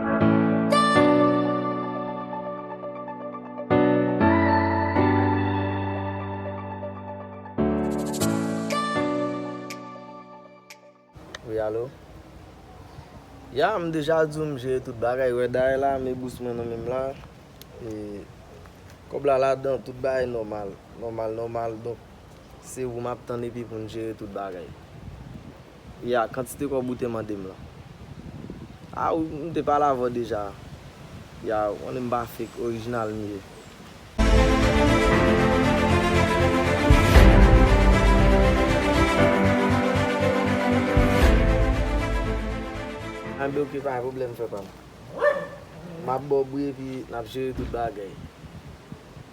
Wi alo Ya m deja di w m jere tout bagay wè dayè la me bous mwen nan men m la e kòb la ladan tout bagay nòmal nòmal nòmal donk se ou m ap tann epi pou n jere tout bagay. Ya, kantite kòb ou te mande m lan. A, wi, m te pale avè w deja. Ya, ou konnen m pa fake, orijinal m ye. Enben ok, pa gen pwoblèm frè pa m. M ap ba w bri epi n ap jere tout bagay.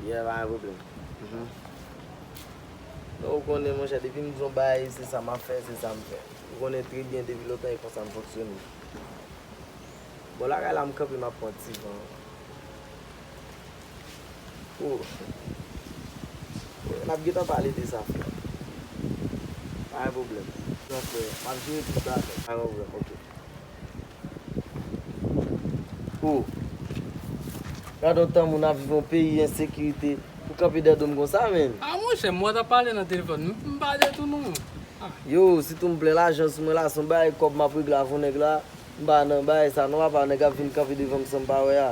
Ya, pa gen pwoblèm. Men ou konnen monchè depi m di yon bagay se sa m ap fè, se sa m fè. Ou konnen trè byen depi lontan e konsa m fonksyone. Bò lakay la m kanpe m ap pran ti van. Fou. N ap gentan pale de sa frè m. Pa gen pwoblèm. Frè m, m ap jere tout bagay. Pa gen pwoblèm, ok. Ohh. Gadon tan moun ap viv yon peyi ensekirite ou kanpe dèyè dom konsa menn. Ah monchè mwen tap pale nan telefòn m pale tou non ah. Yo sitou m plen lajan sou mwen la son bagay kòb map regle avon nèg la m pa nan bagay sa non apa nèg ap vin kanpe devanm sanm pa wè a.